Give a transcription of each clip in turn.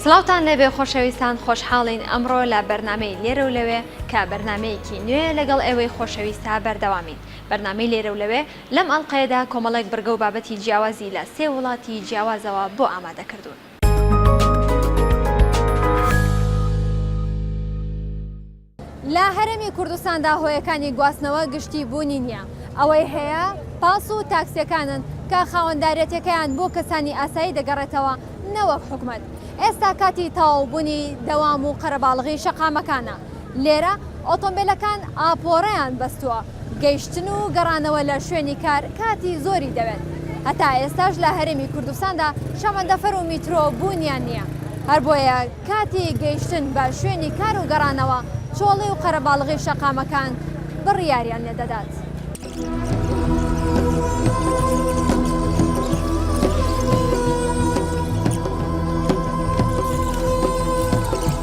سڵاوتان لێبێ خۆشەویستان خۆشحاڵین ئەمڕۆ لە بەرنمەی لێرە و لەوێ کە بەرنمەیەکی نوێ لەگەڵ ئێوەی خۆشەویستا بەردەوامین بەرنمەی لێرە و لەوێ لەم ئەڵلقەیەدا کۆمەڵێک بڕگە و بابەتی جیاوازی لە سێ وڵاتی جیاوازەوە بۆ ئامادە کردوون. لە هەرێمی کوردستاندا هۆیەکانی گواستنەوە گشتی بوونی نییە، ئەوەی هەیە پاس و تاکسیەکانن کە خاوەنداریەتیەکەیان بۆ کەسانی ئاسایی دەگەڕێتەوە نەوەک حکومەت، ئێستا کاتی تەواو بوونی دەوام و قەرەباڵغی شەقامەکانە، لێرە ئۆتۆمبێلەکان ئاپۆرەیان بەستووە، گەیشتن و گەڕانەوە لە شوێنی کار کاتی زۆری دەوێت، هەتا ئێستاش لە هەرێمی کوردستاندا شەمەندەفەر و میترۆ بوونیان نییە، هەربۆیە کاتی گەیشتن بە شوێنی کار و گەڕانەوە چۆڵی و قەرەباڵغی شەقامەکان بڕیاریان لێ دەدات.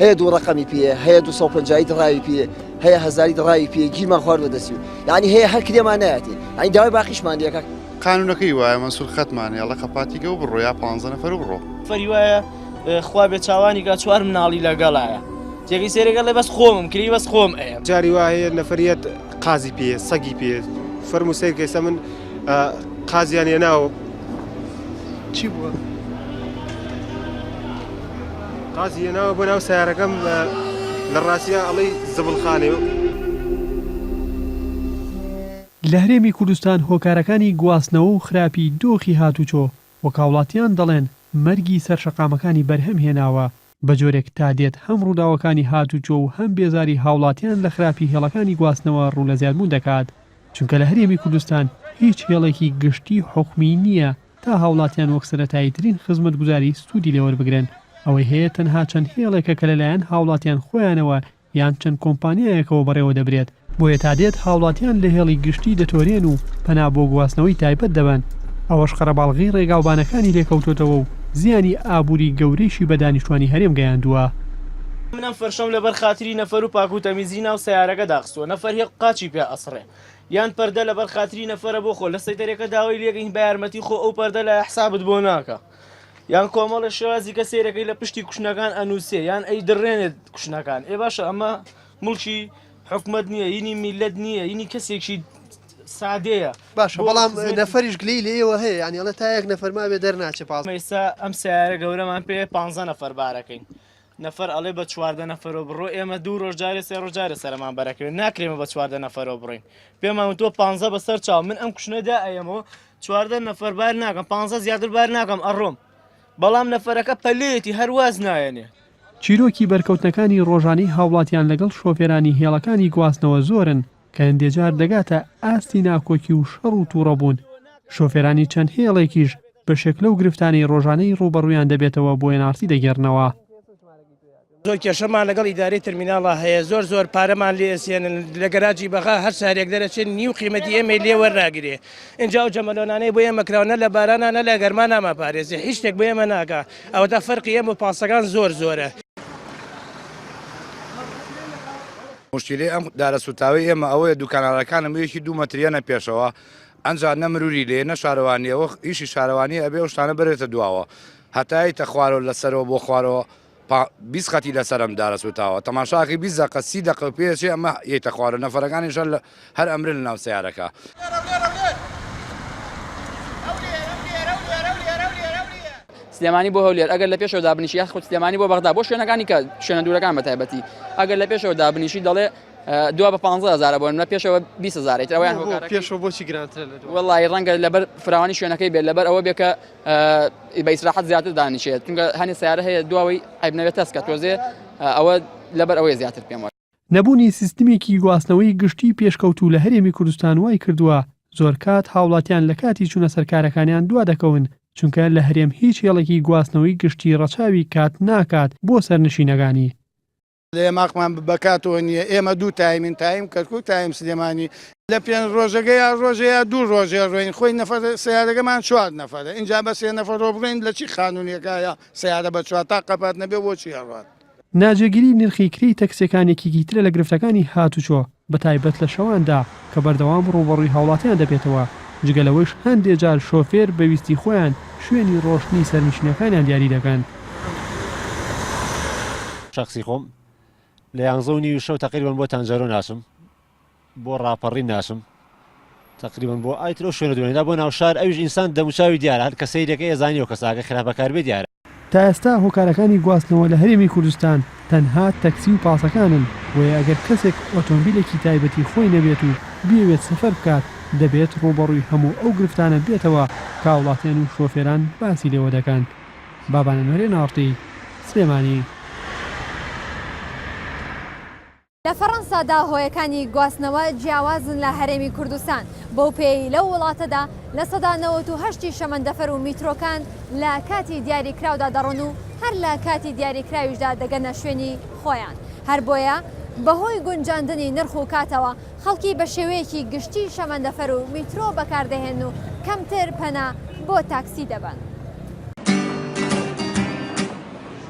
هەیە دوو ڕەقەمی پێیە هەیە دوو سەد و پەنجا ی دڕاوی پێیە هەیە هەزاری دڕاوی پێیە گیرمان خواردووە دەچوو یانی هەیە هەر کرێمان نایەتی ئەی داوای باقیشمان لە کاک قانوونەکەی وایە مەنسوور خەتمان هەیە ڵە قەپاتیگە و بڕۆ یا پانزە نەفەر و بڕۆ. فەری وایە خوا بێ چاوانی گا چوار مناڵی لە گەڵایە تێگەی سەیرەکە ڵێ بەس خۆمم کری بەس خۆم ئەیەم. جاری وا هەیە نەفەر یەت. قازی پێ سەگی پێ فەرموو سەیر کە ئێستا من قازیان هێناوە چی بووە؟ قازی هێناوە بۆ ناو سیارەکەم لە ڕاستیا ئەڵەی زبڵخانێ و لە هەرێمی کوردستان هۆکارەکانی گواستنەوە و خراپی دۆخی هاتوچۆ وەک هاوڵاتیان دەڵێن مەرگی سەر شەقامەکانی بەرهەم هێناوە بە جۆرێک تا دێت هەم ڕووداوەکانی هاتووچۆ و هەم بێزاری هاوڵاتیان لە خراپی هێڵەکانی گواستنەوە ڕوو لە زیادبوون دەکات، چونکە لە هەرێمی کوردستان هیچ هێڵێکی گشتی حکومی نییە تا هاوڵاتیان وەک سەرەتاییترین خزمەتگوزاری سوودی لێ وەربگرن، ئەوەی هەیە تەنها چەند هێڵێکە کە لەلایەن هاوڵاتیان خۆیانەوە یان چەند کۆمپانیایەکەوە بەڕێوە دەبرێت، بۆیە تا دێت هاوڵاتیان لە هێڵی گشتی دەتۆرێن و پەنا بۆ گواستنەوەی تایبەت دەبەن، ئەوەش قەرەباڵغی ڕێگاوبانەکانی لێکەوتۆتەوە و زیانی ئابووری گەورەیشی بە دانیشتوانی هەرێم گەیاندووە. من ئەم فەرشەم لەبەر خاتری نەفەر و پاکو تەمیزی ناو سەیارەکە داخستوە نەفەر هێڵ قاچی پێ ئەسڕێ یان پەردە لەبەر خاتری نەفەرە بۆ خۆ لە سەیتەرێکە داوەی لێگەین بە یارمەتی خۆ ئەو پەردە لایە حسابت بۆ ناکا یان کۆمەڵە شێوازی کە سێرەکەی لە پشتی کوشنەکان ئەنووسێ یان ئەی دڕێنێت کوشنەکان ئێ باشە ئەمە مڵکی حکومت نییە یینی میلەت نییە یینی کەسێکی سادەیە باش بەڵام نەفریش گلی لێەوە هەیە ینیڵە تا یەک نەفەرما بێ دەرناچێ پاڵ ئێستا ئەم سیارە گەورەمان پێ پ نەفەر بارەکەین نەفەر ئەڵێ بە چواردە نەفەرۆ بڕۆ ئێمە دوو ڕۆژ جارێ سێ ڕۆژ جارێ سەرەمان بەرەکەوێ ناکرێمە بە چواردە نەفەرۆ بڕۆین پێمان وتوە پانزە بەسەر چاو من ئەم کوشنەدا ئەیەمەوە چواردە نەفەر بار ناکەم پانزە زیاتر بار ناکەم ئەڕۆم بەڵام نەفەرەکە پەلەیەتی هەرواز نایەنێ چیرۆکی بەرکەوتنەکانی ڕۆژانەی هاوڵاتیان لەگەڵ شۆفێرانی هێڵەکانی گواستنەوە زۆرن کە هەندێجار دەگاتە ئاستی ناکۆکی و شەڕ و توڕەبوون، شۆفێرانی چەند هێڵێکیش بەشێک لەو گرفتانەی ڕۆژانەی ڕووبەڕوویان دەبێتەوە بۆ ئێن ئاڕ تی دەگێڕنەوە. زۆر کێشەمان لەگەڵ ئیدارەی ترمیناڵا هەیە، زۆر زۆر پارەمان لێ ئەسێنن، لە گەراجی بەغا هەر سارێک دەرەچێت نیو قیمەتی ئێمەی لێ وەرناگرێ، ئینجا ئەو جەمەلۆنانەی بۆ ئێمە کراون نە لە بارانا نە لە گەرما نامانپارێزێ، هیچ شتێک بۆ ئێمە ناکا، ئەوەتا فەرقی ئێمە و پاسەکان زۆر زۆرە. موشکیلەی ئەم دارە سوتاوەی ئێمە ئەوەیە دوکانارەکانە مویەکی دوو مەتر یەنە پێشەوە ئەنجا نە مروری لێ نە شارەوانیە وە ئیشی شارەوانی ئەبێ ئەو شتانە بەرێتە دواوە هەتا یەیتە خوارەوە لە سەرەوە بۆ خوارەوە پا بیست قەتی لەسەرم دارە سوتاوە تەماشاکەی بیست دەقە سی دەقە پێچێ ئەمە یەیتە خوارەوە نەفەرەکانیشە لە هەر ئەمرن لە ناو سەیارەکە. سلێمانی بۆ هەولێر ئەگەر لە پێشەوە دابنیشی یاخود سلێمانی بۆ بەغدا بۆ شوێنەکانی کە شوێنە دوورەکان بە تایبەتی ئەگەر لە پێشەوە دابنیشی دەڵێ دو بە 15000 بۆن لە پێشەوە 20000 ترەوەیان هۆکار پێشەوە بۆچی گرانترە لە دوای وڵی ڕەنگە لەبەر فراوانی شوێنەکەی بێت لەبەر ئەوە بێکە بە ئیسراحەت زیاتر دانیشێت چونکە هەنێ سیارە هەیە دواوەی عیبنەوێت تەسکە تۆزێ ئەوە لەبەر ئەوەی زیاتر پێم وایە نەبوونی سیستمێکی گواستنەوەی گشتی پێشکەوتوو لە هەرێمی کوردستان وای کردووە زۆر کات هاوڵاتیان لە کاتی چوونە سەر کارەکانیان دوا دەکەون، چونکە لە هەرێم هیچ هێڵێکی گواستنەوەی گشتی ڕەچاوی کات ناکات بۆ سەرنشینەکانی. لەێماقمان بەکاتەوە نییە، ئێمە دوو تایمین، تایم کەرکوک، تایم سلێمانی، لە پێنج ڕۆژەگە یا ڕۆژێ یا دوو ڕۆژێ ڕۆین، خۆی نەفەر سەیارەگەمان چوار نەفەرە، ئینجا بە سێ نەفەرۆ بڕۆین لە چی خانونێکایە سەیارە بە چوار تا قەپات نەبێ بۆچی ئەڕوات؟ ناجێگیری نرخی کرێی تەکسیەکان یەکێکی ترە لە گرفتەکانی هاتوچۆ بە تایبەت لە شەواندا کە بەردەوام ڕووبەڕووی هاوڵاتیان دەبێتەوە، جگە لەوەیش هەندێ جار شۆفێر بە ویستی خۆیان شوێنی ڕۆشتنی سەرنشینەکانیان دیاری دەکەن. شەخسی خۆم لە یانزە و نیوی شەو تەقریبەن بۆ تانجەرۆ ناچم، بۆ ڕاپەڕین ناچم تەقریبەن بۆ ئای ترۆ شوێنە دوێنێدا بۆ ناوشار ئەویش ئینسان دەموچاوی دیارە هەر کە سەیرەکەی ئەزانی و کەساکە خراپەکار بێ دیارە. تا ئێستا هۆکارەکانی گواستنەوە لە هەرێمی کوردستان تەنها تەکسی و پاسەکانن، بۆیە ئەگەر کەسێک ئۆتۆمبیلێکی تایبەتی خۆی نەبێت و بیەوێت سەفەر بکات دەبێت ڕووبەڕووی هەموو ئەو گرفتانە بێتەوە کە هاوڵاتیان و شۆفێران باسی لێوە دەکەن. بابانە نۆرێن ئاڕتی سلێمانی. لە فەرەنسادا هۆیەکانی گواستنەوە جیاوازن لە هەرێمی کوردستان، بەو پێیەی لەو وڵاتەدا لە سەدا نەوەت و هەشت ی شەمەندەفەر و میترۆکان لە کاتی دیاریکراودا دەڕۆن و هەر لە کاتی دیاریکراویشدا دەگەنە شوێنی خۆیان، هەر بۆیە بەهۆی گونجاندنی نرخ و کاتەوە خەڵکی بە شێوەیەکی گشتی شەمەندەفەر و میترۆ بەکاردەهێنن و کەمتر پەنا بۆ تاکسی دەبەن.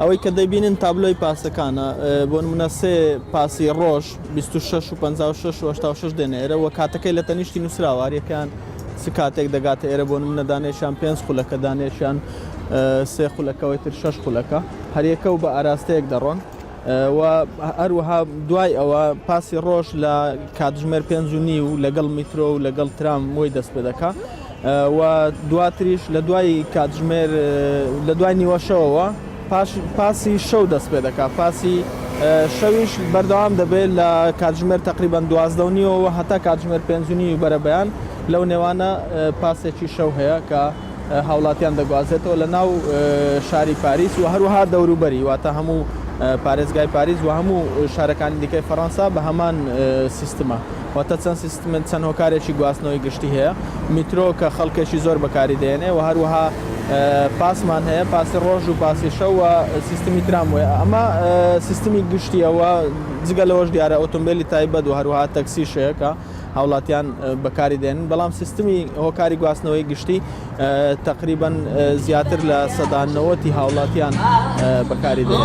ئەوەی کە دەبینن تابلۆی پاسەکانە، بۆ نموونە سێ پاسی ڕۆژ، بیست و شەش و پەنجا و شەش و هەشتا و شەش دێنە ئێرە و کاتەکەی لە تەنیشتی نووسراوە، هەر یەکەیان چ کاتێک دەگاتە ئێرە، بۆ نموونە دانەیەکیان پێنج خولەکە، دانەیەکیان سێ خولەکە، ئەوەی تر شەش خولەکە، هەریەکە و بە ئاراستەیەک دەڕۆن و هەروەها دوای ئەوە پاسی ڕۆژ لە کاتژمێر پێنج و نیو لەگەڵ میترۆ و لەگەڵ ترام وەی دەست پێ دەکا. و دواتریش لە دوای کاتژمێر لە دوای نیوە شەوەوە پاش پاسی شەو دەست پێ دەکات پاسی شەویش بەردەوام دەبێت لە کاتژمێر تقریبان دوازدە و نیوەوە هەتا کاتژمێر پێنجنی و بەرەبەیان لەو نێوانە پاسێکی شەو هەیە کە هاوڵاتیان دەگوازێتەوە لە ناو شاری پاریس و هەروەها دەوروبەری واتە هەموو پارێزگای پاریس و هەموو شارەکانی دیکەی فەڕەنسا بە هەمان سیستمە واتە چەند سیستم چەند هۆکارێکی گواستنەوەی گشتی هەیە میترۆ کە خەڵکێکی زۆر بەکاری دێنێ و هەروەها پاسمان هەیە پاسی ڕۆژ و پاسی شەو و سیستمی ترام وەیە ئەمە سیستمی گشتیەوە جگە لەوەش دیارە ئۆتۆمبیلی تایبەت و هەروها تەکسی شەیەکە هاوڵاتیان بەکاری دێن بەڵام سیستمی هۆکاری گواستنەوەی گشتی تقریبا زیاتر لە سەدانەوەتی هاوڵاتیان بەکاری دێن.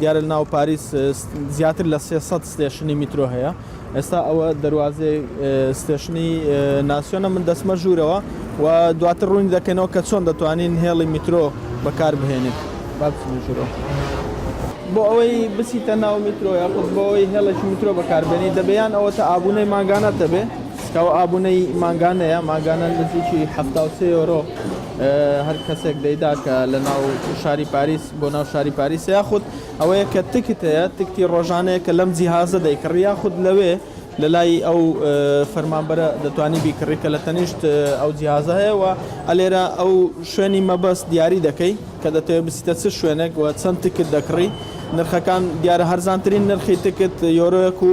دیارە ناو پاریس زیاتر لە سێ سەد ستێشنی میترۆ هەیە ئێستا ئەوە دەواازێ ستێشنی ناسیۆنە من دەسمە ژوورەوە و دواتر ڕوونی دەکەنەوە کە چۆن دەتوانین هێڵی میترۆ بەکار بهێنێت بابژرۆ. بۆ ئەوەی بسیتە ناو میترۆ یاخود بۆی هێڵێکی میترۆ بەکاربێنی دەبیان ئەوە تا ئابوونەی ماگانە دەبێ کەەوە ئابوونەی ماگانەیە ماگانە نزیکی ه یۆرۆ هەر کەسێک دەیدا کە لە ناو شاری پاریس بۆ ناو شاری پاریسە یاخود ئەوەیە کە تکت هەیە تکتی ڕۆژانەیە کە لەم جیهازە دەیکڕی یاخود لەوێ لە لای ئەو فەرمانبەرە دەتوانی بیکڕی کە لە تەنیشت ئەو جیهازە هەیە و ئەلێرە ئەو شوێنی مەبەست دیاری دەکەی کە دەتەوێت بچیتە چ شوێنێک و چەند تکت دەکڕی نرخەکان دیارە هەرزانترین نرخی تکت یۆرۆیەک و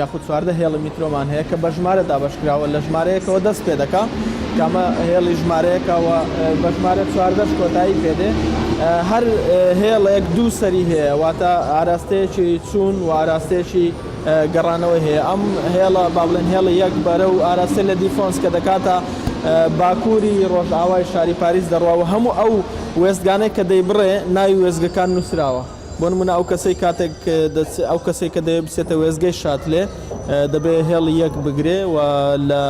یاخود چواردە هێڵی میترۆمان هەیە کە بە ژمارە دابەشکراوە لە ژمارەیەکەوە دەست پێ دەکا کە ئەمە هێڵی ژمارەیەکە و بە ژمارە چواردەش کۆتایی پێ دێ هەر هێڵێک دوو سەری هەیە واتە ئاراستەیەکی چوون و ئاراستەیەکی گەڕانەوەی هەیە ئەم هێڵە با بڵێن هێڵی یەک بەرە و ئاراستە لە دیفۆنس کە دەکاتە باکووری ڕۆژئاوای شاری پاریس دەڕوا و هەموو ئەو وێستگانەی کە دەیبڕێ ناوی وێستگەکان نووسراوە بۆ نمونە ئەو کەسەی کاتێک ئەو کەسێک کە دەوێت بچێتە وێزگەی شاتلێ دەبێ هێڵی یەک بگرێ و لە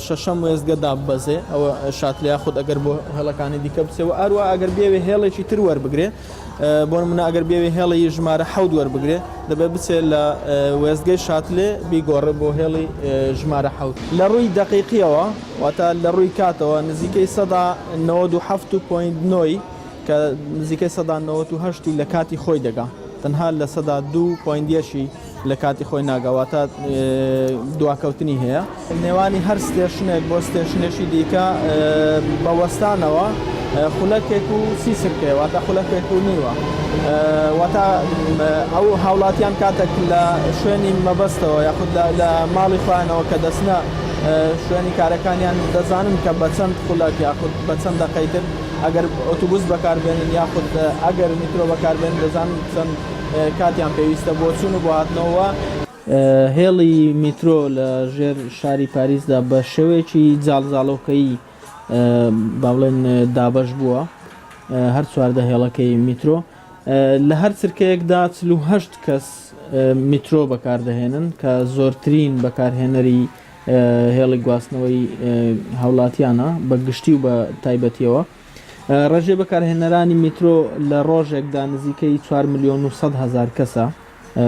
شەشەم وێزگە داببەزێ ئەوە شاتلیا خود ئەگەر بۆ هێڵەکانی دیکە بچێ و ئەروە ئەگەر بێوێ هێڵێکی تر وەربگرێ بۆ منە ئەگەر بێوێ هێڵی ژمارە حەود وەربگرێ دەبێت بچێ لە وێزگەی شاتلێ بیگۆڕێ بۆ هێڵی ژمارە حەوت لە ڕووی دقیقیەوە واتە لە ڕووی کاتەوە نزیکەی سەدا 97.9 کە نزیکەی سەدا نەوەت و هەشت ی لە کاتی خۆی دەگا تەنها لە سەدا دوو پۆینت یەکی لە کاتی خۆی ناگا واتە دواکەوتنی هەیە نێوانی هەر ستێشنێک بۆ ستێشنێکی دیکە بە وەستانەوە خولەکێک و سی سرکەیە واتە خولەکێک و نیوە واتە ئەو هاوڵاتیان کاتێک لە شوێنی مەبەستەوە یاخود لە ماڵی خۆیانەوە کە دەستنە شوێنی کارەکانیان دەزانن کە بە چەند خولەک یاخود بە چەند دەقەی تر ئەگەر ئۆتوبوس بەکاربێنن یاخود ئەگەر میترۆ بەکاربێنن دەزانن چەند کاتیان پێویستە بۆ چوون و بۆ هاتنەوە. هێڵی میترۆ لە ژێر شاری پاریسدا بە شێوەیەکی جاڵجاڵۆکەیی با بڵێن دابەش بووە، هەر چواردە هێڵەکەی میترۆ لە هەر چرکەیەکدا چل و هەشت کەس میترۆ بەکاردەهێنن کە زۆرترین بەکارهێنەری هێڵی گواستنەوەی هاوڵاتیانە بە گشتی و بە تایبەتیەوە ڕێژەی بەکارهێنەرانی میترۆ لە ڕۆژێکدا نزیکەی 4 ملیۆن و 100 هزار کەسە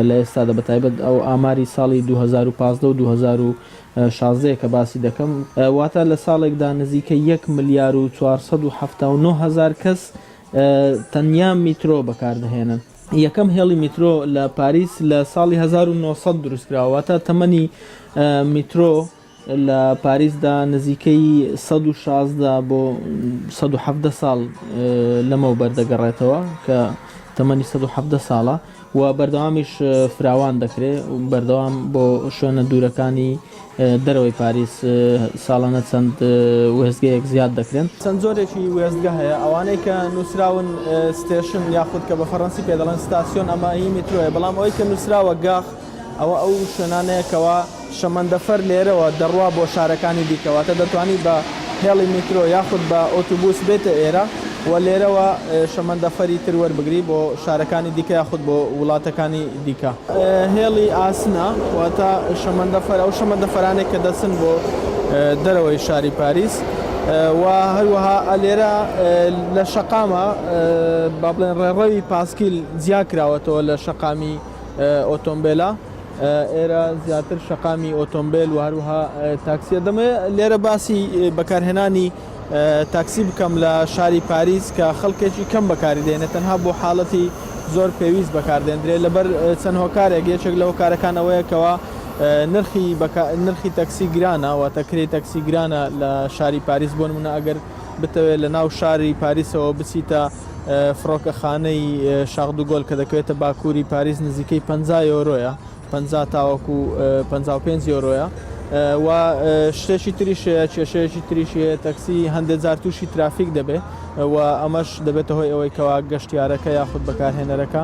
لە ئێستادا بە تایبەت ئەو ئاماری ساڵی 2015 و 2016 کە باسی دەکەم واتە لە ساڵێکدا نزیکە 1 ملیار و 479 هزار کەس تەنیا میترۆ بەکاردەهێنن یەکەم هێڵی میترۆ لە پاریس لە ساڵی هەزار و نۆ سەد دروستکراوە، واتە تەمەنی میترۆ لە پاریسدا نزیکەی سەد و شازدە بۆ سەد و حەڤدە ساڵ لەمەوبەر دەگەڕێتەوە کە تەمەنی سەد و حەڤدە ساڵە و بەردەوامیش فراوان دەکرێت و بەردەوام بۆ شوێنە دوورەکانی دەرەوەی پاریس ساڵانە چەند وێستگەیەک زیاد دەکرێن؟ چەند جۆرێکی وێستگە هەیە، ئەوانەی کە نووسراون ستێشن یاخود کە بە فەڕەنسی پێ دەڵێن ستاسیۆن ئەمە هی میترۆیە، بەڵام ئەوەی کە نووسراوە گاخ ئەوە ئەو شوێنانەیە کەوا شەمەندەفەر لێرەوە دەڕوا بۆ شارەکانی دیکە واتە دەتوانی بە هێڵی میترۆ یاخود بە ئۆتوبوس بێیتە ئێرە و لێرەوە شەمەندەفەری تر وەربگری بۆ شارەکانی دیکە یاخود بۆ وڵاتەکانی دیکە. هێڵی ئاسنە واتە شەمەندەفەر ئەو شەمەندەفەرانەی کە دەچن بۆ دەرەوەی شاری پاریس و هەروەها لێرە لە شەقامە با بڵێن ڕێڕەوی پاسکیل جیا کراوەتەوە لە شەقامی ئۆتۆمبێلە. ئێرە زیاتر شەقامی ئۆتۆمبێل و هەروەها تاکسیە دەمێ لێرە باسی بەکارهێنانی تاکسی بکەم لە شاری پاریس کە خەڵکێکی کەم بەکاری دێنێت تەنها بۆ حاڵەتی زۆر پێویست بەکاردێندرێت لەبەر چەند هۆکارێک یەکێک لە هۆکارەکان ئەوەیەکەوە نرخی نرخی تەکسی گرانە و تەکری تەکسی گرانە لە شاری پاریس بۆ منە ئەگەر بتەوێت لە ناو شاری پاریسەوە بچیتە فڕۆکەخانەی شاخدوگۆل کە دەکەوێتە باکووری پاریس نزیکەی پەنجا یۆرۆیە پەنجا تاوەکو پەنجا و پێنج یۆرۆیە و شتێکی تریش هەیە کێشەیەکی تریش هەیە تەکسی هەندێک جار تووشی ترافیک دەبێت و ئەمەش دەبێتە هۆی ئەوەی کەوا گەشتیارەکە یاخود بەکارهێنەرەکە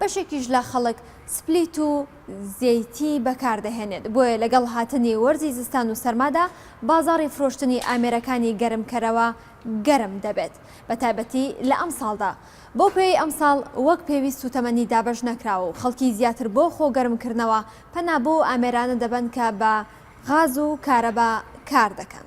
بەشێکیش لە خەڵک سپلیت و زەیتی بەکاردەهێنێت، بۆیە لەگەڵ هاتنی وەرزی زستان و سەرمادا بازاڕی فرۆشتنی ئامێرەکانی گەرمکەرەوە گەرم دەبێت، بەتایبەتی لە ئەمساڵدا. بەو پێیەی ئەمساڵ وەک پێویست سووتەمەنی دابەش نەکراوە و خەڵکی زیاتر بۆ خۆگەرمکردنەوە پەنا بۆ ئەو ئامێرانە دەبەن کە بە غاز و کارەبا کاردەکەن،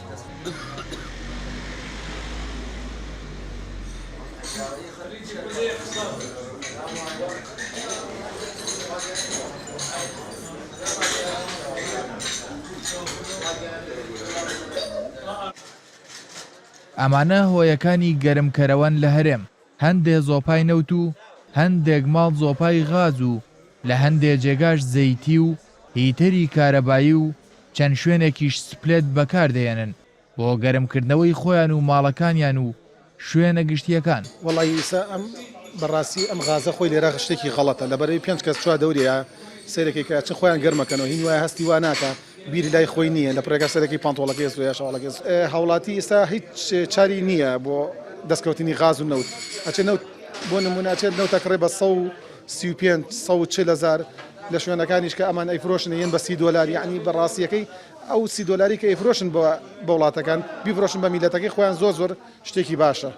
ئەمانە هۆیەکانی گەرمکەرەوەن لە هەرێم، هەندێ زۆپای نەوت و هەندێک ماڵ زۆپای غاز و لە هەندێ جێگاش زەیتی و هیتەری کارەبایی و چەند شوێنێکیش سپلێت بەکاردەهێنن بۆ گەرمکردنەوەی خۆیان و ماڵەکانیان و شوێنە گشتییەکان. وەڵا یسا ئەم بەڕاستی ئەم غازە خۆی لێرە شتێکی غەڵەتە لەبەرەوی پێنج کەس چوار دەورێیا سەیرەکەی کە ئەچن خۆیان گەرم ئەکەنەوە هین وایە هەستی وا ناکا بیر لای خۆی نییە لە پڕێکا سەرەکی پانتۆڵەکەی ئەستۆ یا شەواڵەکەی هاوڵاتی ئیستا هیچ چاری نییە بۆ دەسکەوتنی غاز و نەوت ئەچێ نەوت بۆ نمونە ئەچێت نەوت ئەکڕێ بە سەد و سی و پێنج سەد و چل هەزار لە شوێنەکانیش کە ئەمان ئەیفرۆشن ئەیەن بە سی دۆلار یەعنی بە ڕاستیەکەی ئەو سی دۆلاری کە ئەیفرۆشن بە بە وڵاتەکان بیفرۆشن بە میلەتەکەی خۆیان زۆر زۆر شتێکی باشە.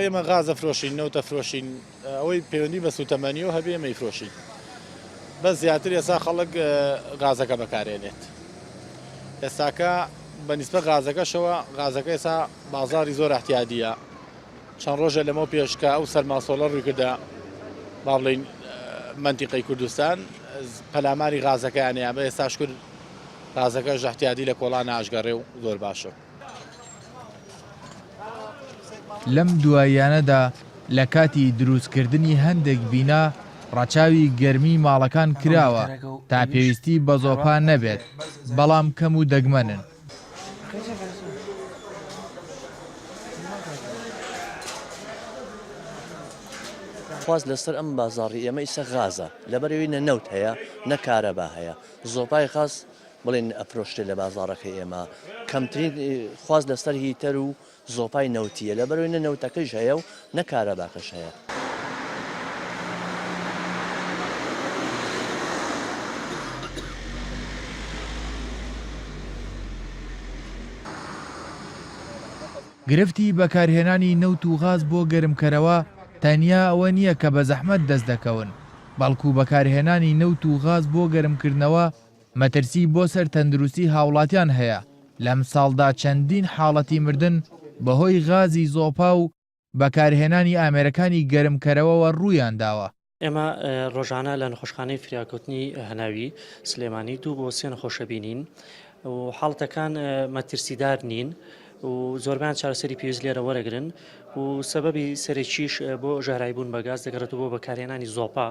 ئێمە غاز ئەفرۆشین نەوت ئەفرۆشین. ئەوەی پەیوەندی بە سوتەمەنیەوە هەبێ مەیفرۆشین بەس زیاتر ئێسا خەڵک غازەکە بەکارێنێت ئێستاکە بە نیسبە غازەکەشەوە غازەکە ئێسا بازاری زۆر احتیادیە چەند ڕۆژە لەمە پێشکە ئەو سەرماسۆڵە ڕووی کردە با بڵین منتیقی کوردستان پەلاماری غازەکەیانەیە بە ئێستاش کرد غازەکە ژەحتیادی لە کۆڵان ئاشگەڕێ و زۆر باشە لەم دواییانەدا لە کاتی دروستکردنی هەندێک بینا ڕەچاوی گەرمی ماڵەکان کراوە تا پێویستی بە زۆپا نەبێت، بەڵام کەم و دەگمەنن. خواست لەسەر ئەم بازاڕی ئێمە ئیسە غازە، لەبەر ئەوی نە نەوت هەیە نە کارەبا هەیە، زۆپای غاز بڵێن ئەفرۆشرێت لە بازاڕەکەی ئێمە کەمترین خواست لەسەر هیتەر و زۆپای نەوتیە لە بەرەوەی نە نەوتەکەش هەیە و نە کارەباکەش هەیە. گرفتی بەکارهێنانی نەوت و غاز بۆ گەرمکەرەوە تەنیا ئەوە نییە کە بە زەحمەت دەست دەکەون، بەڵکو بەکارهێنانی نەوت و غاز بۆ گەرمکردنەوە مەترسی بۆ سەر تەندروستی هاوڵاتیان هەیە، لەمساڵدا چەندین حاڵەتی مردن بەهۆی غازی زۆپا و بەکارهێنانی ئامێرەکانی گەرمکەرەوەوە روویانداوە. ئێمە رۆژانە لە نەخۆشخانەی فریاکەوتنی هەناوی سلێمانی دوو بۆ سێ نەخۆشە بینین و حاڵەتەکان مەترسیدار نین و زۆربەیان چارەسەری پێویست لێرە وەرەگرن و سەبەبی سەرەکیش بۆ ژەهراوی بوون بە گاز دەگەڕێتەوە بۆ بەکارهێنانی زۆپا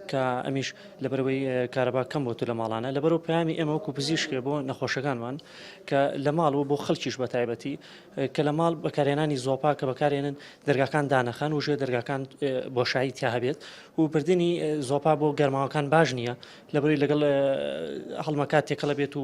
کە ئەمیش لەبەرەوەی کارەبا کەم بۆتە لە ماڵانە لەبەرەوە پەیامی ئێمە وەکو پزیشکێ بۆ نەخۆشەکانمان کە لە ماڵ و بۆ خەڵکیش بە تایبەتی کە لە ماڵ بەکارهێنانی زۆپا کە بەکارێنن دەرگاکان دانەخەن و ژێ دەرگاکان بۆشایی تیا هەبێت و بردننی زۆپا بۆ گەرماوەکان باش نییە لەبەروی لەگەڵ هەڵمەکات تێکەڵە بێت و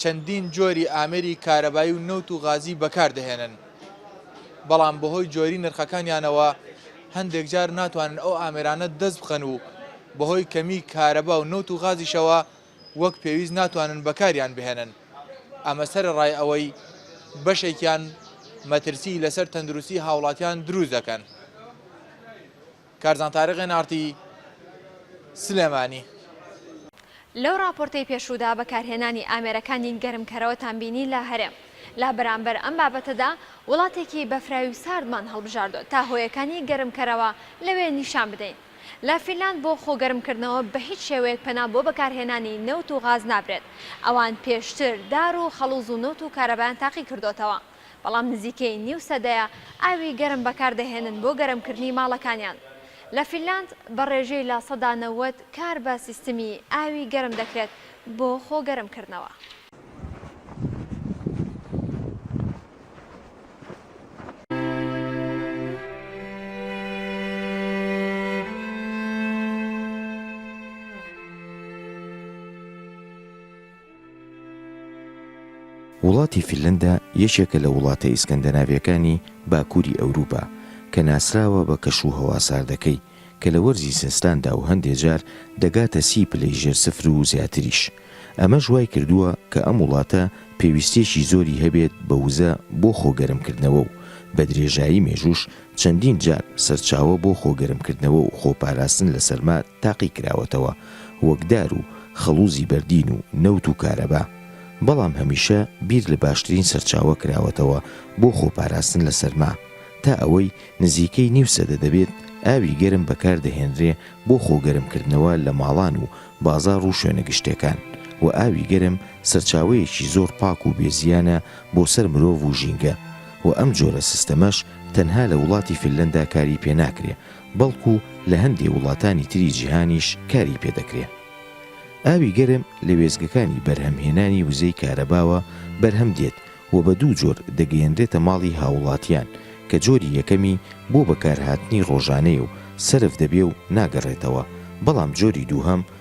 چەندین جۆری ئامێری کارەبایی و نەوت و غازی بەکاردەهێنن، بەڵام بەهۆی جۆری نرخەکانیانەوە هەندێک جار ناتوانن ئەو ئامێرانە دەست بخەن و بەهۆی کەمی کارەبا و نەوت و غازیشەوە وەک پێویست ناتوانن بەکاریان بهێنن ئەمە سەرەڕای ئەوەی بەشێکیان مەترسی لەسەر تەندروستی هاوڵاتیان دروست دەکەن. کارزان تاریق ئێن ئاڕ تی سلێمانی. لەو ڕاپۆرتەی پێشوودا بەکارهێنانی ئامێرەکانی گەرمکەرەوەتان بینی لە هەرێم. لە بەرامبەر ئەم بابەتەدا وڵاتێکی بەفراوی و ساردمان هەڵبژاردووە تا هۆیەکانی گەرمکەرەوە لەوێ نیشان بدەین. لە فینلاند بۆ خۆگەرمکردنەوە بە هیچ شێوەیەک پەنا بۆ بەکارهێنانی نەوت و غاز نابرێت. ئەوان پێشتر دار و خەڵوز و نەوت و کارەبایان تاقی کردۆتەوە. بەڵام نزیکەی نیو سەدەیە ئاوی گەرم بەکاردەهێنن بۆ گەرمکردنی ماڵەکانیان. لە فینلاند بە ڕێژەی لە سەدا نەوەد کار بە سیستمی ئاوی گەرم دەکرێت بۆ خۆگەرمکردنەوە. وڵاتی فینلەندا یەکێکە لە وڵاتە ئیسکەندەناڤیەکانی باکووری ئەوروپا کە ناسراوە بە کەش و هەوا ساردەکەی کە لە وەرزی زستاندا و هەندێ جار دەگاتە سی پلەی ژێر سفر و زیاتریش ئەمەش وای کردووە کە ئەم وڵاتە پێویستیەکی زۆری هەبێت بە وزە بۆ خۆ گەرمکردنەوە و بە درێژایی مێژووش چەندین جار سەرچاوە بۆ خۆگەرمکردنەوە و خۆپاراستن لە سەرما تاقی کراوەتەوە، وەک دار و خەڵووزی بەردین و نەوت و کارەبا، بەڵام هەمیشە بیر لە باشترین سەرچاوە کراوەتەوە بۆ خۆپاراستن لە سەرما، تا ئەوەی نزیکەی نیو سەدە دەبێت ئاوی گەرم بەکاردەهێنرێ بۆ خۆگەرمکردنەوە لە ماڵان و بازاڕ و شوێنە گشتێکان و ئاوی گەرم سەرچاوەیەکی زۆر پاک و بێزیانە بۆ سەر مرۆڤ و ژینگە، و ئەم جۆرە سیستەمەش تەنها لە وڵاتی فنلەندا کاری پێ ناکرێ بەڵکو لە هەندێ وڵاتانی تری جیهانیش کاری پێ دەکرێ. ئاوی گەرم لە وێستگەکانی بەرهەمهێنانی وزەی کارەباوە بەرهەم دێت و بە دوو جۆر دەگەیەنرێتە ماڵی هاووڵاتیان کە جۆری یەکەمی بۆ بەکارهاتنی ڕۆژانەیە و سەرف دەبێ و ناگەڕێتەوە بەڵام جۆری دووهەم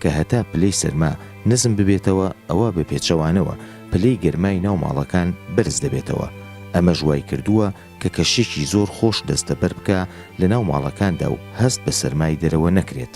کە هەتا پلەی سەرما نزم ببێتەوە ئەوا بە پێچەوانەوە پلەی گەرمای ناو ماڵەکان بەرز دەبێتەوە، ئەمەش وای کردووە کە کەشێکی زۆر خۆش دەستەبەر بکا لە ناو ماڵەکاندا و هەست بە سەرمای دەرەوە نەکرێت.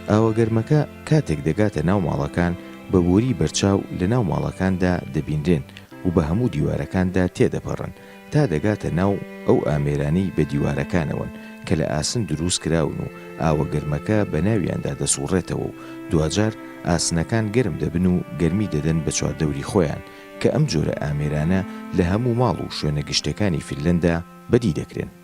ئاوە گەرمەکە کاتێک دەگاتە ناو ماڵەکان بە بۆری بەرچاو لە ناو ماڵەکاندا دەبینرێن و بە هەموو دیوارەکاندا تێدەپەڕن تا دەگاتە ناو ئەو ئامێرانی بە دیوارەکانەوەن کە لە ئاسن دروست کراون و ئاوە گەرمەکە بە ناویاندا دەسوڕێتەوە و دواجار ئاسنەکان گەرم دەبن و گەرمی دەدەن بە چواردەوری خۆیان کە ئەم جۆرە ئامێرانە لە هەموو ماڵ و شوێنە گشتەکانی فیلەندا بەدی دەکرێن.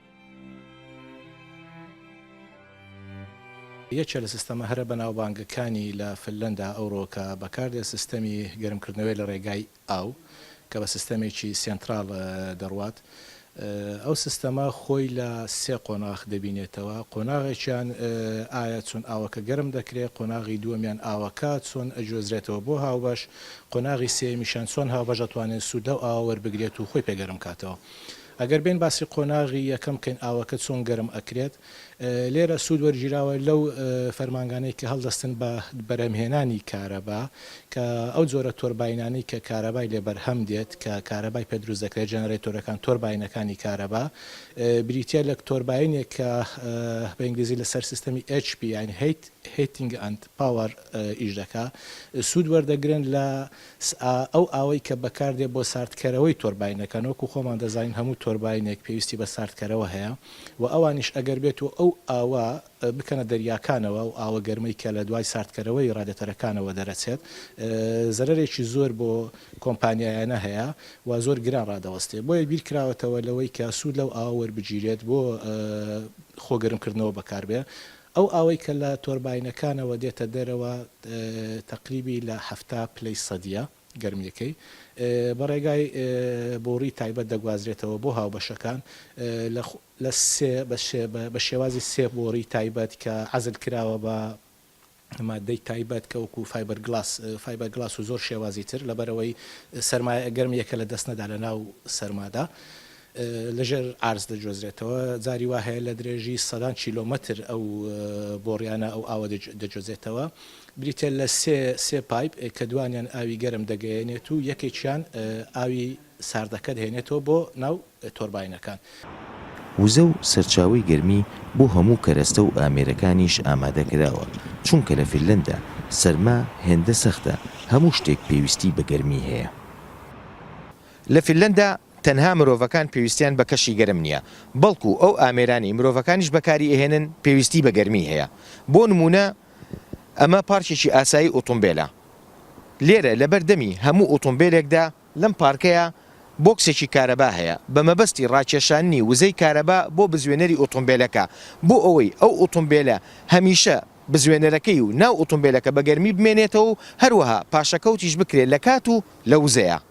یەکێ لە سیستەمە هەرە بەناوبانگەکانی لە فنلەندا ئەوڕۆ کە بەکاردێت سیستەمی گەرمکردنەوەیە لە ڕێگای ئاو کە بە سیستەمێکی سێنتراڵ دەڕوات ئەو سیستەمە خۆی لە سێ قۆناخ دەبینێتەوە قۆناغێکیان ئایا چۆن ئاوەکە گەرم دەکرێت قۆناغی دووەمیان ئاوەکە چۆن ئەگوێزرێتەوە بۆ هاوبەش قۆناغی سێمیشان چۆن هاوبەش ئەتوانێت سوود لەو ئاوە وەربگرێت و خۆی پێگەرم کاتەوە ئەگەر بێین باسی قۆناغی یەکەم بکەین ئاوەکە چۆن گەرم ئەکرێت لێرە سوود وەرگیراوە لەو فەرمانگانەی کە هەڵدەستن بە بەرهەمهێنانی کارەبا کە ئەو جۆرە تۆرباینانەی کە کارەبای لێ بەرهەم دێت کە کارەبای پێ دروست دەکرێت جەنەرەیتۆرەکان تۆرباینەکانی کارەبا بریتیە لە تۆرباینێک کە بە ئینگلیزی لەسەر سیستەمی HP یان هیت هیتینگ ئەند پاوەر ئیش دەکا سوود وەردەگرن لە سآ ئەو ئاوەی کە بەکاردێ بۆ ساردکەرەوەی تۆرباینەکان وەکو خۆمان دەزانین هەموو تۆرباینێک پێویستی بە ساردکەرەوە هەیە و ئەوانیش ئەگەر بێت و ئەو ئاوە بکەنە دەریاکانەوە ئەو ئاوە گەرمەی کە لە دوای ساردکەرەوەی ڕادێتەرەکانەوە دەرەچێت زەرەرێکی زۆر بۆ کۆمپانیایانە هەیە و زۆر گران ڕادەوەستێ بۆیە بیرکراوەتەوە لەوەی کە سوود لەو ئاوە وەربگیرێت بۆ خۆ گەرمکردنەوە بەکاربێ ئەو ئاوەی کە لە تۆرباینەکانەوە دێتە دەرەوە تەقریبی لە حەفتا پلەی سەدییە گەرمییەکەی، بە ڕێگای بۆڕی تایبەت دەگوازرێتەوە بۆ هاوبەشەکان لە سێ بە شێوازی سێ بۆڕی تایبەت کە عەزل کراوە بە ماددەی تایبەت کە وەکوو فایبەرگلاس فایبەرگلاس و زۆر شێوازی تر لەبەرئەوەی سەرمایە گەرمییەکە لە دەست نەدا لە ناو سەرمادا لە ژێر عەرز دەگوێزرێتەوە، جاری وا هەیە لە درێژی سەدان کیلۆمەتر ئەو بۆڕیانە ئەو ئاوە دەگوێزێتەوە. بریتییە لە سێ سێ پایپ کە دووانیان ئاوی گەرم دەگەیەنێت و یەکێکیان ئاوی ساردەکە دەهێنێتەوە بۆ ناو تۆرباینەکان. وزە و سەرچاوەی گەرمی بۆ هەموو کەرەستە و ئامێرەکانیش ئامادە کراوە، چونکە لە فیرلەندا سەرما هێندە سەختە هەموو شتێک پێویستی بە گەرمی هەیە. لە فیرلەندا تەنها مرۆڤەکان پێویستیان بە کەشی گەرم نیە بەڵکو ئەو ئامێرانەی مرۆڤەکانیش بەکاری ئەهێنن پێویستی بە گەرمی هەیە بۆ نمونە ئەمە پارکێکی ئاسایی ئوتومبێلە لێرە لەبەر دەمی هەموو ئوتومبێلێکدا لەم پارکەیا بۆکسێکی کارەبا هەیە بە مەبەستی ڕاکێشاننی وزەی کارەبا بۆ بزوێنەری ئوتومبێلەکە بۆ ئەوەی ئەو ئوتومبێلە هەمیشە بزوێنەرەکەی و ناو ئوتومبێلەکە بە گەرمی بمێنێتەوەو هەروەها پاشەکەوتیش بکرێت لە کات و لە وزەیا.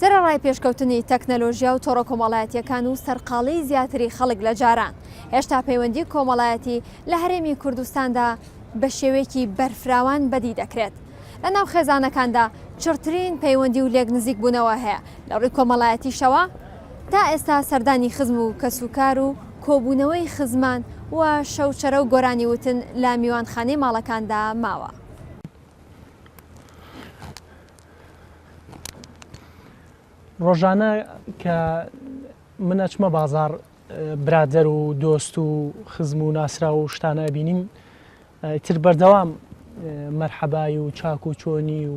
سەرەڕای پێشکەوتنی تەکنەلۆژیا و تۆڕە کۆمەڵایەتییەکان و سەرقاڵیی زیاتری خەڵک لە جاران، هێشتا پەیوەندیی کۆمەڵایەتی لە هەرێمی کوردستاندا بە شێوەیەکی بەرفراوان بەدی دەکرێت. لەناو خێزانەکاندا چڕترین پەیوەندی و لێکنزیکبوونەوە هەیە، لە ڕووی کۆمەڵایەتیشەوە تا ئێستا سەردانی خزم و کەسوکار و کۆبوونەوەی خزمان و شەوچەرە و گۆرانی وتن لە میوانخانەی ماڵەکاندا ماوە. ڕۆژانە کە من ئەچمە بازار برادەر و دۆست و خزم و ناسرا و شتانە ئەبینیم تر بەردەوام مەرحەبای و چاک و چۆنی و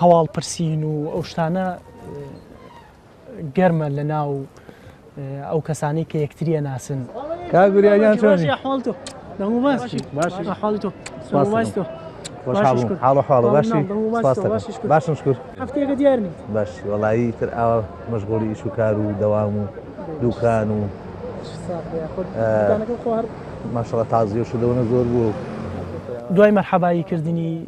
هەواڵ پرسین و ئەو شتانە گەرمە لە ناو ئەو کەسانی کە یەکتریە ناسن کاگوریان چۆنی حاڵ تۆ دەمو باش باش حاڵ تۆ باش تۆ باشم شکر هەفتێکە دیار باش وڵایی تر ئاوا مەشغۆڵی ئیش و کار و دەوام و دوکان و ماشەڵە تازیۆش دەونە زۆر بوو دوای مەرحەبایی کردنی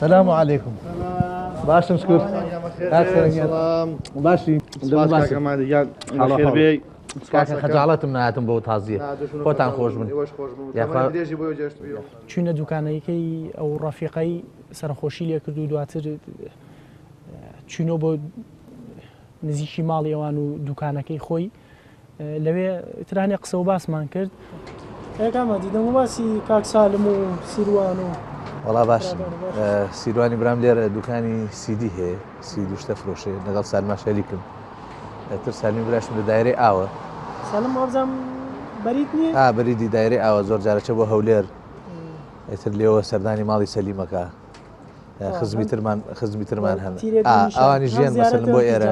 سلام و علیکم باشم شکر باشی کاکە خەجاڵەتم ناتم بۆ تازیە خۆتان خۆش من چوینە دوکانەکەی ئەو ڕەفیقەی سەرخۆشی لێ کردو دواتر چینۆ بۆ نزیکی ماڵیەوان و دوکانەکەی خۆی لەوێ ترانێ قسە و باسمان کرد. کاکامە دیدەم و باسی کاک سالم و سیروان و وەڵا باشم سیروانی برام لێرە دوکانی سیدی هەیە سی دوشتە فرۆشێ لەگەڵ سالما شەریکم تر سالمی براشم لە دایرەی ئاوە سالم وابزانم بەریت نییە ئا بەریدی دایرەی ئاوە زۆر جارەچە بۆ هەولێر ئێتر لێەوە سەردانی ماڵی سەلیمەکە خزمی ترمان خزمی ترمان هەن ئەوانی ژیان بەسەر بۆ ئێرە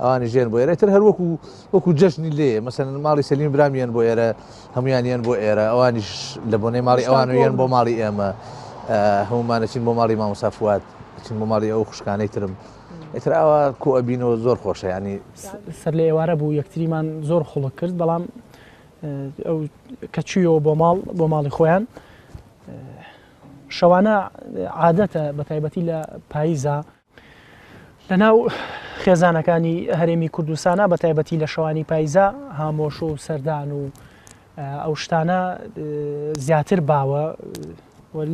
ئەوانی ژێن بۆ ئێرە تر هەر وەکو وەکو جەژنی لێ مەسەن ماڵی سەلیم برامیان بۆ ئێرە هەمویانیان بۆ ئێرە ئەوانیش لە بۆنەی ماڵی ئەوانویان بۆ ماڵی ئێمە هەمومانەچین بۆ ماڵی مامۆسافات چین بۆ ماڵی ئەو خوشکانەی ترم ئتراوە کۆبینەوە زۆر خۆشە ینی سەر لە ئێوارە بوو یەکتریمان زۆر خڵک کرد بەڵام ئەو کە چویەوە بۆ ماڵ بۆ ماڵی خۆیان شەوانە عادەتە بە تایبەتی لە پاییزە لەناو خێزانەکانی هەرێمی کوردستانە بە تایبەتی لە شەوانی پایزە هامۆش و سەردان و ئەو شتانە زیاتر باوە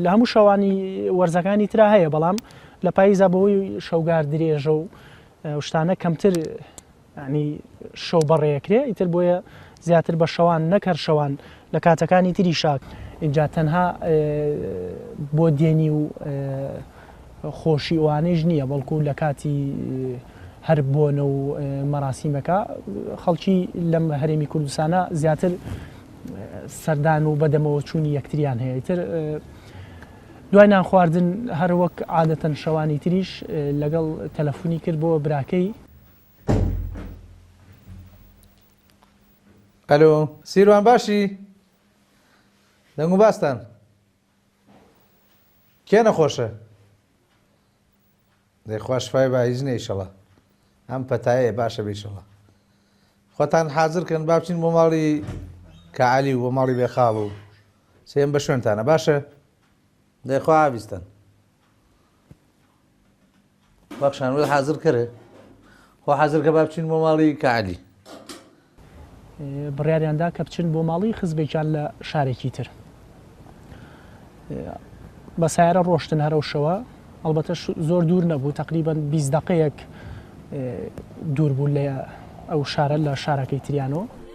لە هەموو شەوانی وەرزەکانی تررا هەیە بەڵام لە پاییزە بەوەی شەوگار درێژە و شتانە کەمتر یانی شەو بەڕێکرێ ئیتر بۆیە زیاتر بە شەوان نەک هەر شەوان لە کاتەکانی تری شا ئینجا تەنها بۆ دێنی و خۆشی ئەوانەیش نییە بەڵکو لە کاتی هەر بۆنە و مەراسیمەکە خەڵکی لەم هەرێمی کوردستانە زیاتر سەردان و بەدەمەوە چوونی یەکتریان هەیە تر دوای نان خواردن هەر وەک عادەتەن شەوانی تریش لەگەڵ تەلەفۆنی کرد بۆ براکەی ئەلۆ سیروان باشی دەنگ و باستان کێ نەخۆشە دەیخوا شفای با هیچ نەیشەڵە ئەم پەتایە باشە بیشەڵە خۆتان حازرکەن باچین بۆ ماڵی کەعالی و بۆ ماڵی بێخاڵ و سێم بە شوێنتانە باشە دەیخوا بیستن بەخشان وەل حازر کەرێ خۆ حازر کە با بچین بۆ ماڵی کەعەلی بڕیاریاندا کە بچن بۆ ماڵی خزبێکیان لە شارێکی تر بە سایرە ڕۆشتن هەرەوشەوە ئەڵبەتە زۆر دوور نەبوو تقریبان 20 دقەیەک دوور بوو لە ئەو شارە لە شارەکەی تریانۆ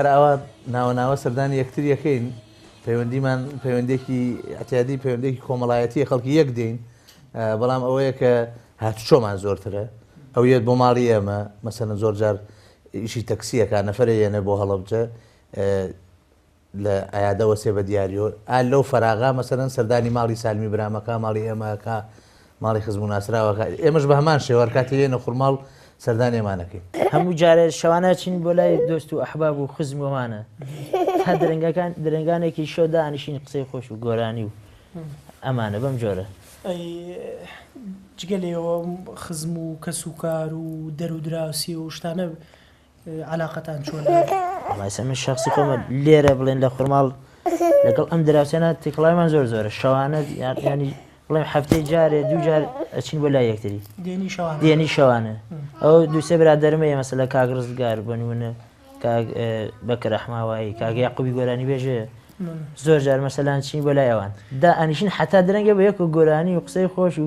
هەر ئاوا ناوە ناوە سەردانی یەکتر یەکەین پەیوەندیمان پەیوەندێکی ئەتیادی پەیوەندێکی کۆمەڵایەتی خەڵکی یەک دێین بەڵام ئەوەیە کە هاتوچۆمان زۆرترە ئەو یەت بۆ ماڵی ئێمە مەسەن زۆر جار ئیشی تەکسیەکە نەفرە یەنە بۆ هەڵبجە لە ئایا دەوەستێ بە دیاریۆ؟ ئا لەو فەراغە مەسەلەن سەردانی ماڵی سالمی برام ئەکا، ماڵی ئێمە ئەکا، ماڵی خزم و ناسراو ئەکا، ئێمەش بە هەمان شێوە هەر کاتی ئێنە خورماڵ سەردانی ئەمان ئەکەین. هەموو جارێ شەوانە ئەچین بۆ لای دۆست و ئەحباب و خزم و ئەوانە. تا درەنگەکان درەنگانێکی شەو دانیشین قسەی خۆش و گۆرانی و ئەمانە بەم جۆرە. ئەی جگە لەیەوە خزم و کەس و کار و دەرودراوسی و شتانە عەلاقەتان چۆنە؟ وەڵای سەر من شەخسی خۆمە لێرە بڵێن لە خورماڵ لەگەڵ ئەم دراوسێنە تێکڵایمان زۆر زۆرە شەوانە ینی بڵێم هەفتەی جارێ دوو جار ئەچین بۆ لا یەکتری دێنی شەوانە ئەو دووسێ برا دەرمە ئێمە لە کاگ ڕزگار بنوونە بەکە رەحماوایی کاگەی قوبی گۆرانی بێژێ زۆر جار مەسەلان چین بۆ لای ئەوان دا ئەنیشین حتا درەنگە بە یەک و گۆرانی و قسەی خۆش و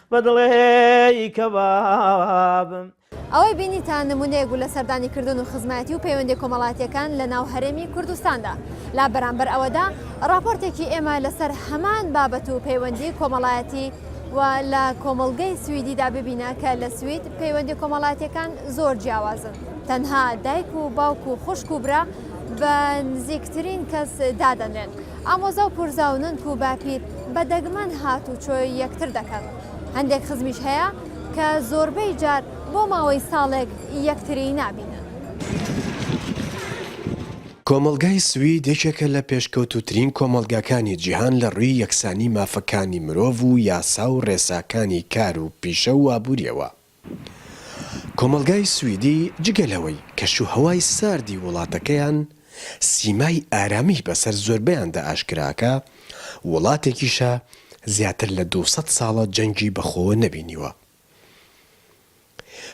بە دڵێی کەبابم. ئەوەی بینیتان نمونەیەک بوو لە سەردانی کردن و خزمایەتی و پەیوەندیە کۆمەڵاتیەکان لە ناو هەرێمی کوردستاندا. لە بەرامبەر ئەوەدا ڕاپۆرتێکی ئێمە لە سەر هەمان بابەت و پەیوەندی کۆمەڵایەتی و لە کۆمەڵگەی سویدیدا ببینە کە لە سوید پەیوەندی کۆمەڵاتیەکان زۆر جیاوازن. تەنها دایک و باوک و خوشک و برا بە نزیکترین کەس دادەنرێن. ئامۆزا و پورزا و نەنک و باپیر بە دەگمەن هاتوچۆی یەکتر دەکەن، هەندێک خزمیش هەیە کە زۆربەی جار بۆ ماوەی ساڵێک یەکتری نابینن. کۆمەڵگای سوید یەکێکە لە پێشکەوتووترین کۆمەڵگاکانی جیهان لە ڕووی یەکسانی مافەکانی مرۆڤ و یاسا و ڕێساکانی کار و پیشە و ئابوورییەوە، کۆمەڵگای سویدی جگە لەوەی کەشوهەوای ساردی وڵاتەکەیان سیمای ئارامی بەسەر زۆربەیاندا ئاشکراکا، وڵاتێکیشە زیاتر لە دوو سەد ساڵە جەنگی بەخۆوە نەبینیوە.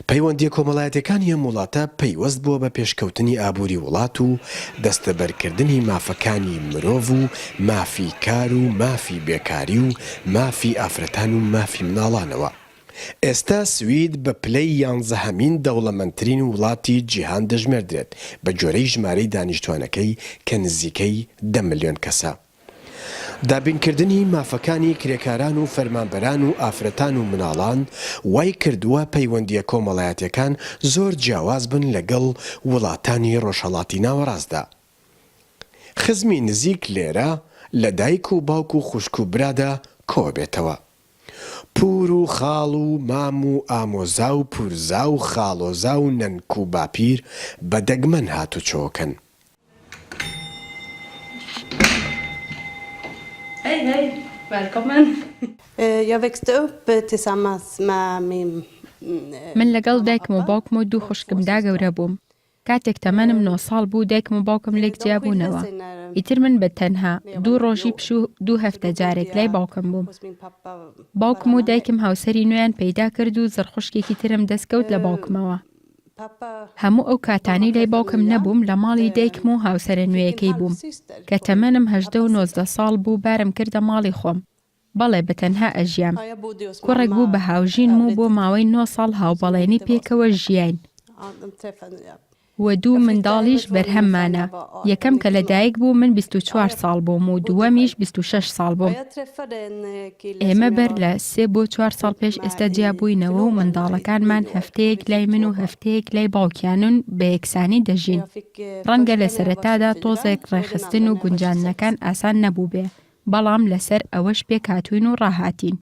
پەیوەندییە کۆمەڵایەتیەکانی ئەم وڵاتە پەیوەست بووە بە پێشکەوتنی ئابووری وڵات و دەستەبەرکردنی مافەکانی مرۆڤ و مافی کار و مافی بێکاری و مافی ئافرەتان و مافی مناڵانەوە. ئێستا سوید بە پلەی یانزەهەمین دەوڵەمەندترین وڵاتی جیهان دەژمێردرێت بە گوێرەی ژمارەی دانیشتوانەکەی کە نزیکەی دە ملیۆن کەسە. دابینکردنی مافەکانی کرێکاران و فەرمانبەران و ئافرەتان و مناڵان وای کردووە پەیوەندییە کۆمەڵایەتیەکان زۆر جیاواز بن لەگەڵ وڵاتانی ڕۆژهەڵاتی ناوەڕاستدا. خزمی نزیک لێرە لە دایک و باوک و خوشک و برادا کۆبێتەوە. پوور و خاڵ و مام و ئامۆزا و پوورزا و خاڵۆزا و نەنک و باپیر بە دەگمەن هاتوچۆکەن. من لەگەڵ دایکم و باوکم و دوو خوشکمدا گەورە بووم. کاتێک تەمەنم نۆ ساڵ بوو دایکم و باوکم لێک جیا بوونەوە، ئیتر من بە تەنها، دوو ڕۆژی پشوو دوو هەفتە جارێک لای باوکم بووم. باوکم و دایکم هاوسەری نوێیان پەیدا کرد و زڕ خوشکێکی ترم دەست کەوت لە باوکمەوە. هەموو ئەو کاتانەی لای باوکم نەبووم لە ماڵی دایکم و هاوسەرە نوێیەکەی بووم. کە تەمەنم هەژدە و نۆزدە ساڵ بوو بارم کردە ماڵی خۆم. بەڵێ بە تەنها ئەژیام. کوڕێک بوو بە هاوژینم و بۆ ماوەی نۆ ساڵ هاوبەڵێنی پێکەوە ژیاین و دوو منداڵیش بەرهەممانە، یەکەم کە لە دایک بوو من بیست و چوار ساڵ بووم و دووەمیش بیست و شەش ساڵ بووم. ئێمە بەر لە سێ بۆ چوار ساڵ پێش ئێستا جیا بووینەوە و منداڵەکانمان هەفتەیەک لای من و هەفتەیەک لای باوکیانن و بە یەکسانی دەژین. ڕەنگە لە سەرەتادا تۆزێک ڕێکخستن و گونجاندنەکان ئاسان نەبووبێ، بەڵام لەسەر ئەوەش پێکهاتووین و ڕاهاتین.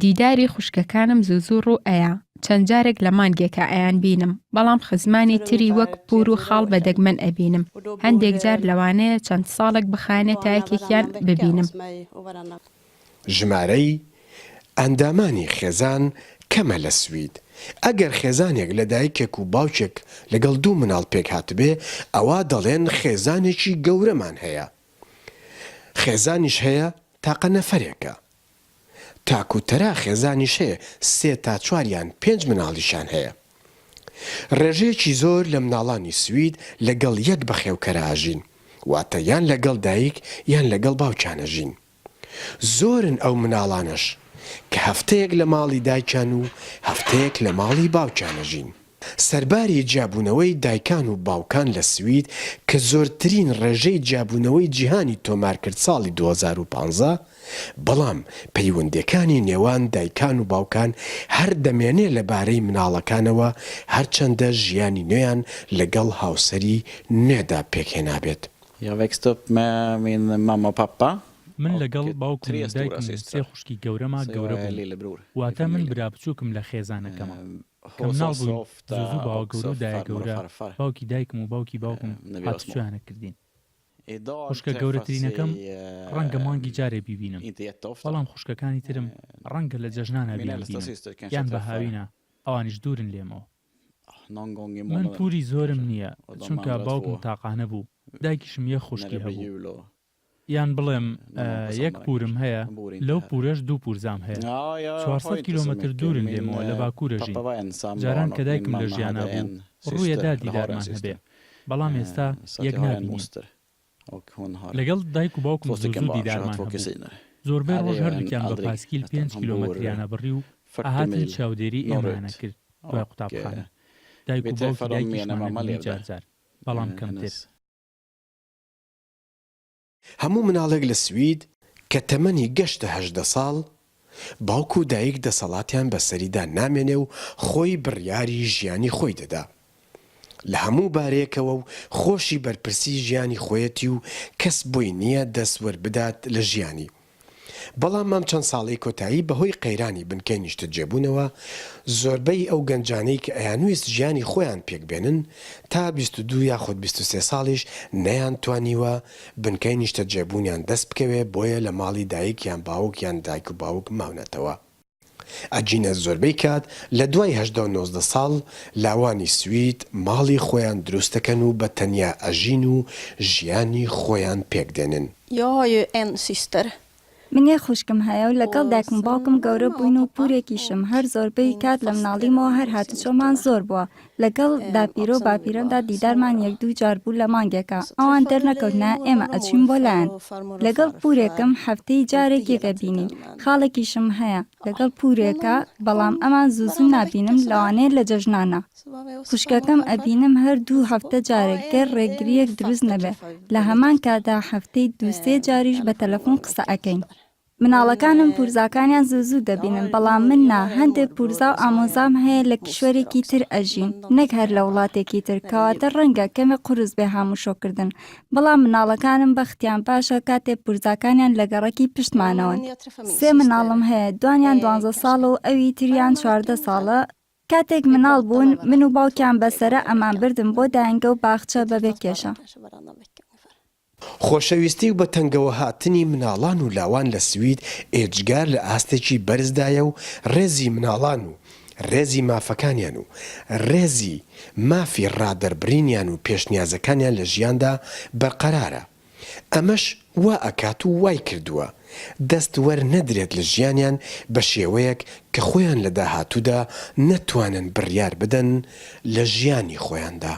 دیداری خوشکەکانم زوو زوو ڕوو ئەیا، چەند جارێک لە مانگێکا ئەیانبینم، بەڵام خزمانی تری وەک پوور و خاڵ بە دەگمەن ئەبینم، هەندێک جار لەوانەیە چەند ساڵێک بخایەنێ تا یەکێکیان ببینم. ژمارەی ئەندامانی خێزان کەمە لە سوید، ئەگەر خێزانێک لە دایکێک و باوکێک لەگەڵ دوو مناڵ پێکهاتبێ، ئەوا دەڵێن خێزانێکی گەورەمان هەیە، خێزانیش هەیە تاقە نەفەرێکە تاک و تەرا خێزانیش هەیە سێ تا چوار یان پێنج مناڵیشان هەیە ڕێژەیەکی زۆر لە مناڵانی سوید لەگەڵ یەک بەخێوکەرە ئەژین واتە یان لەگەڵ دایک یان لەگەڵ باوکیان ئەژین زۆرن ئەو مناڵانەش کە هەفتەیەک لە ماڵی دایکیان و هەفتەیەک لە ماڵی باوکیان ئەژین. سەرباری جیابوونەوەی دایکان و باوکان لە سوید کە زۆرترین ڕێژەی جیابوونەوەی جیهانی تۆمارکرد ساڵی دوو هەزار و پازدە، بەڵام پەیوەندێکانی نێوان دایکان و باوکان هەر دەمێنێ لەبارەی مناڵەکانەوە هەرچەندە ژیانی نوێیان لەگەڵ هاوسەری نوێدا پێکهێنابێت. Jag växte upp med min mamma och pappa من لەگەڵ باوکم و دایکم و سێ خوشکی گەورەما گەورە بووم، واتە من برا بچووکم لە خێزانەکەمە. کە مناڵ بووین زوزو باوەگەورو دایە گەورە باوکی دایکم و باوکی باوکم هاتوچۆیانە کردین خوشکە گەورەترینەکەم ڕەنگە مانگی جارێ بیبینم بەڵام خوشکەکانی ترم ڕەنگە لە جەژنانا بیانبینم یان بە هاوینا ئەوانیش دوورن لێمەوە من پوری زۆرم نیە چونکە باوکم تاقانە بوو دایکیشم یەک خوشکی هەبوو یان بڵێم یەک پوورم هەیە، لەو پوورەش دوو پوورزام هەیە. چوار سەد کیلۆمەتر دوورن لێمەوە لە باکوورەژین. جاران کە دایکم لە ژیانا بوو، ڕوویە دا دیدارمان هەبێ، بەڵام ئێستا یەک نابینین. لەگەڵ دایک و باوکم زوو زوو دیدارمان هەبوو. زۆربەی ڕۆژ هەردووکیان بە پاسکیل پێنج کیلۆمەتریان ئەبڕی و ئەهاتن چاودێری ئێمەیان ئەکرد دوای قوتابخانە. دایک و باوکی دایکیشمان ئەبینی جار جار، بەڵام کەمتر. هەموو مناڵێک لە سوید کە تەمەنی گەشتە هەژدە ساڵ، باوک و دایک دەسەڵاتیان بەسەریدا نامێنێ و خۆی بڕیاری ژیانی خۆی دەدا لە هەموو بارەیەکەوە و خۆشی بەرپرسی ژیانی خۆیەتی و کەس بۆی نییە دەست وەربدات لە ژیانی بەڵام ئەم چەند ساڵەی کۆتایی بەهۆی قەیرانی بنکەی نیشتەجێبوونەوە، زۆربەی ئەو گەنجانەی کە ئەیانویست ژیانی خۆیان پێکبێنن، تا بیست و دوو یاخود بیست و سێ ساڵیش نەیانتوانیوە بنکەی نیشتەجێبوونیان دەستبکەوێ، بۆیە لە ماڵی دایک یان باوک یان دایک و باوک ماونەتەوە. ئەگینە زۆربەی کات لە دوای هەژدە و نۆزدە ساڵ لاوانی سوید ماڵی خۆیان دروست دەکەن و بە تەنیا ئەژین و ژیانی خۆیان پێک دێنن. Jag har ju en syster. من یەک خوشکم هەیە و لەگەڵ دایکم و باوکم گەورە بووین و پورێکیشم، هەر زۆربەی کات لە مناڵیمەوە هەر هاتوچۆمان زۆر بووە، لەگەڵ باپیرە و باپیرەمدا دیدارمان یەک دوو جار بوو لە مانگێکا ئەوان دەرنەکەوتنە ئێمە ئەچووین بۆ لایان لەگەڵ پورێکم هەفتەی جارێک یەک ئەبینین خاڵێکیشم هەیە لەگەڵ پورێکا بەڵام ئەمان زوو زوو نابینم لەوانەیە لە جەژنانا خوشکەکەم ئەبینم هەر دوو هەفتە جارێک گەر ڕێگریەک دروست نەبێ لە هەمان کاتا هەفتەی دوو سێ جاریش بە تەلەفون قسە ئەکەین. مناڵەکانم پورزاکانیان زوو زوو دەبینن بەڵام من نا هەندێ پورزا و ئامۆزام هەیە لە کیشوەرێکی تر ئەژین نەک هەر لە وڵاتێکی تر کەواتە ڕەنگە کەمێ قورس بێ هاموشۆ کردن بەڵام مناڵەکانم بەختیان باشە کاتێ پورزاکانیان لە گەڕەکی پشتمانەوەن سێ مناڵم هەیە دوانیان دوانزە ساڵە و ئەوی تریان چواردە ساڵە کاتێک مناڵ بوون من و باوکیان بە سەرە ئەمان بردن بۆ دایەنگە و باخچە بەبێ کێشە. خۆشەویستی و بە تەنگەوە هاتنی مناڵان و لاوان لە سوید ئێجگار لە ئاستێکی بەرزدایە و ڕێزی مناڵان و ڕێزی مافەکانیان و ڕێزی مافی ڕادەربرینیان و پێشنیازەکانیان لە ژیاندا بەرقەرارە ئەمەش وا ئەکات و وای کردووە دەست وەر نەدرێت لە ژیانیان بە شێوەیەک کە خۆیان لە داهاتوودا نەتوانن بڕیار بدەن لە ژیانی خۆیاندا.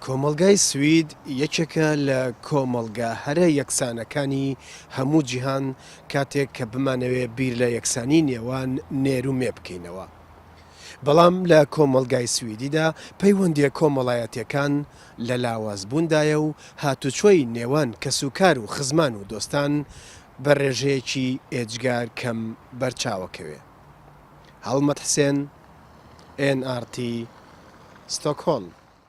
کۆمەڵگای سوید یەکێکە لە کۆمەڵگا هەرە یەکسانەکانی هەموو جیهان، کاتێک کە بمانەوێ بیر لە یەکسانی نێوان نێر و مێ بکەینەوە، بەڵام لە کۆمەڵگای سویدیدا پەیوەندییە کۆمەڵایەتییەکان لە لاوازبووندایە و هاتوچۆی نێوان کەسوکار و خزمان و دۆستان بە ڕێژەیەکی ئێجگار کەم بەرچاوەکەوێ. هەڵمەت حسێن، ئێن ئاڕ تی، ستۆکهۆڵم.